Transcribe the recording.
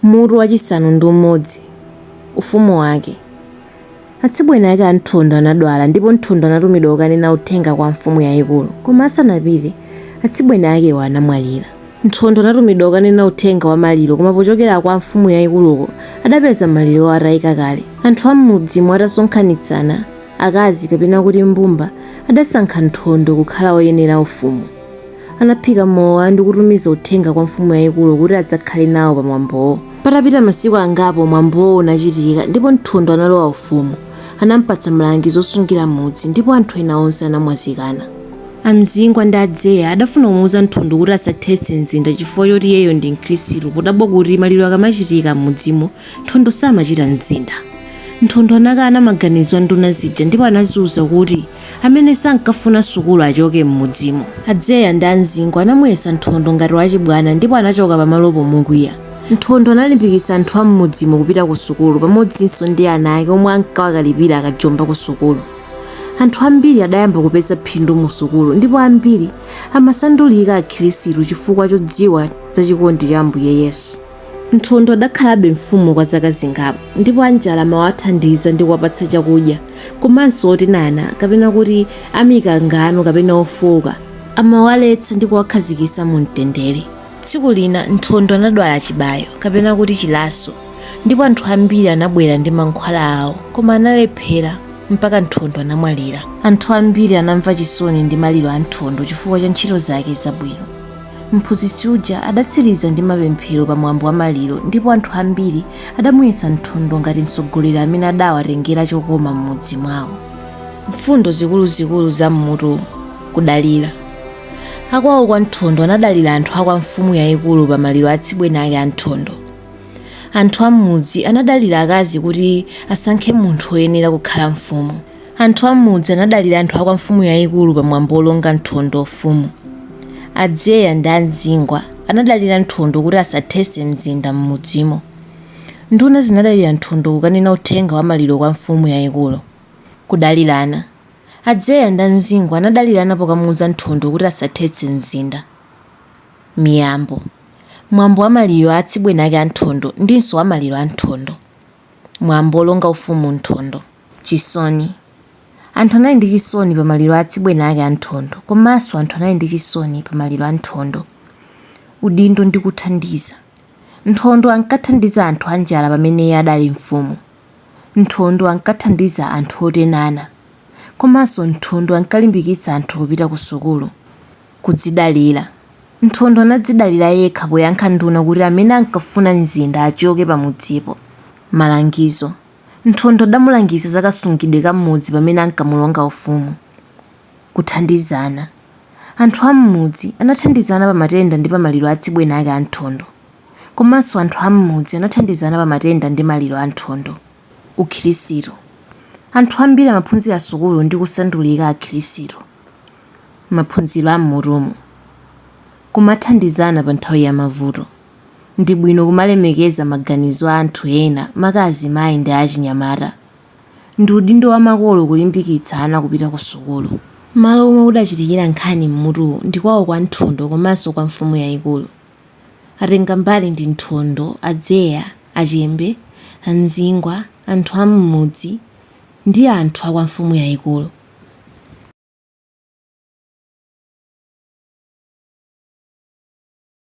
Mutu wachisanu ndi umodzi, ufumu wake. Atsibweni ake a Nthondo anadwala ndipo Nthondo anatumidwa kukanena uthenga kwa mfumu yayikulu koma asanapite, atsibweni akewo anamwalira. Nthondo anatumidwa kukanena uthenga wa maliro koma pochokera kwa mfumu yayikuluko adapeza malirowo atayika kale. Anthu a m'mudzimo atasonkhanitsana, akazi kapena kuti mbumba adasankha Nthondo kukhala woyenera ufumu. anaphika mowa ndi kutumiza uthenga kwa mfumu yayikulu kuti adzakhale nawo pa mwambowo. Patapita masiku angapo mwambowo unachitika ndipo Nthondo analowa ufumu. Anampatsa malangizo osungira mudzi ndipo anthu ena onse anamwazikana. A Mzingwa ndi a Dzeya adafuna kumuuza Nthondo kuti asathetse mzinda chifukwa choti iyeyo ndi Mkhristu podabwa kuti maliro akamachitika m'mudzimo Nthondo samachita mzinda. Nthondo anakana maganizo a nduna zija ndipo anaziuza kuti amene sankafuna sukulu achoke m'mudzimo. A Dzeya ndi a Mzingwa anamuyesa Nthondo ngati wachibwana ndipo anachoka pamalopo mokwiya. Nthondo analimbikitsa anthu a m'mudzimo kupita kusukulu pamodzinso ndi ana ake omwe ankawakalipira akajomba kusukulu. Anthu ambiri adayamba kupeza phindu musukulu ndipo ambiri amasandulika akhirisitu chifukwa chodziwa za chikondi cha Ambuye Yesu. Nthondo adakhalabe mfumu kwa zaka zingapo ndipo anjala amawathandiza ndi kuwapatsa chakudya komanso otenana kapena kuti amikangano kapena ofooka amawaletsa ndi kuwakhazikitsa mu mtendere. Tsiku lina Nthondo anadwala chibayo kapena kuti chilaso ndipo anthu ambiri anabwera ndi mankhwala awo koma analephera mpaka Nthondo anamwalira. Anthu ambiri anamva chisoni ndi maliro a Nthondo chifukwa cha ntchito zake zabwino. Mphunzitsi uja adatsiriza ndi mapemphero pa mwambo wa maliro ndipo anthu ambiri adamuyesa Nthondo ngati mtsogoleri amene adawatengera chokoma m'mudzi mwawo. Mfundo zikuluzikulu za m'mutu Kudalira. Akwawo kwa Nthondo anadalira anthu a kwa mfumu yayikulu pa maliro a atsibweni ake a Nthondo. Anthu a m'mudzi anadalira akazi kuti asankhe munthu woyenera kukhala mfumu. Anthu a m'mudzi anadalira anthu a kwa mfumu yayikulu pa mwambo wolonga Nthondo ufumu. A Dzeya ndi a Mzingwa anadalira Nthondo kuti asathetse mzinda m'mudzimo. Nduna zinadalira Nthondo kukanena uthenga wa maliro kwa mfumu yayikulu. Kudalirana. A Dzeya ndi a Mzingwa anadalirana pokamuwuza Nthondo kuti asathetse mzinda. Miyambo. Mwambo wa maliro a atsibweni ake a Nthondo ndinso wa maliro a Nthondo. Mwambo wolonga ufumu Nthondo. Chisoni. Anthu anali ndi chisoni pa maliro a atsibweni ake a Nthondo komanso anthu anali ndi chisoni pa maliro a Nthondo. Udindo ndi kuthandiza. Nthondo ankathandiza anthu anjala pamene iye adali mfumu. Nthondo ankathandiza anthu otenana. Komanso Nthondo ankalimbikitsa anthu kupita ku sukulu. Kudzidalira. Nthondo anadzidalira yekha poyankha nduna kuti amene ankafuna mzinda achoke pamudzipo. Malangizo. Nthondo adamulangiza za kasungidwe ka mmudzi pamene ankamulonga ufumu. Kuthandizana. Anthu a mmudzi anathandizana pa matenda ndi pa maliro a atsibweni ake a Nthondo. Komanso anthu a mmudzi anathandizana pa matenda ndi maliro a Nthondo. Ukhirisitu. Anthu ambiri amaphunzira sukulu ndi kusandulika akhirisitu. Maphunziro a mmutumu. Kumathandizana pa nthawi ya mavuto. Ndi bwino kumalemekeza maganizo a anthu ena, maka azimayi ndi achinyamata. Ndi udindo wa makolo kulimbikitsa ana kupita kusukulu. Malo omwe kudachitikira nkhani m'mutuwu ndi kwawo kwa Nthondo komanso kwa mfumu yaikulu. Atengambali ndi Nthondo, a Dzeya, a Chembe, a Mzingwa, anthu a m'mudzi, ndi anthu a kwa mfumu yaikulu.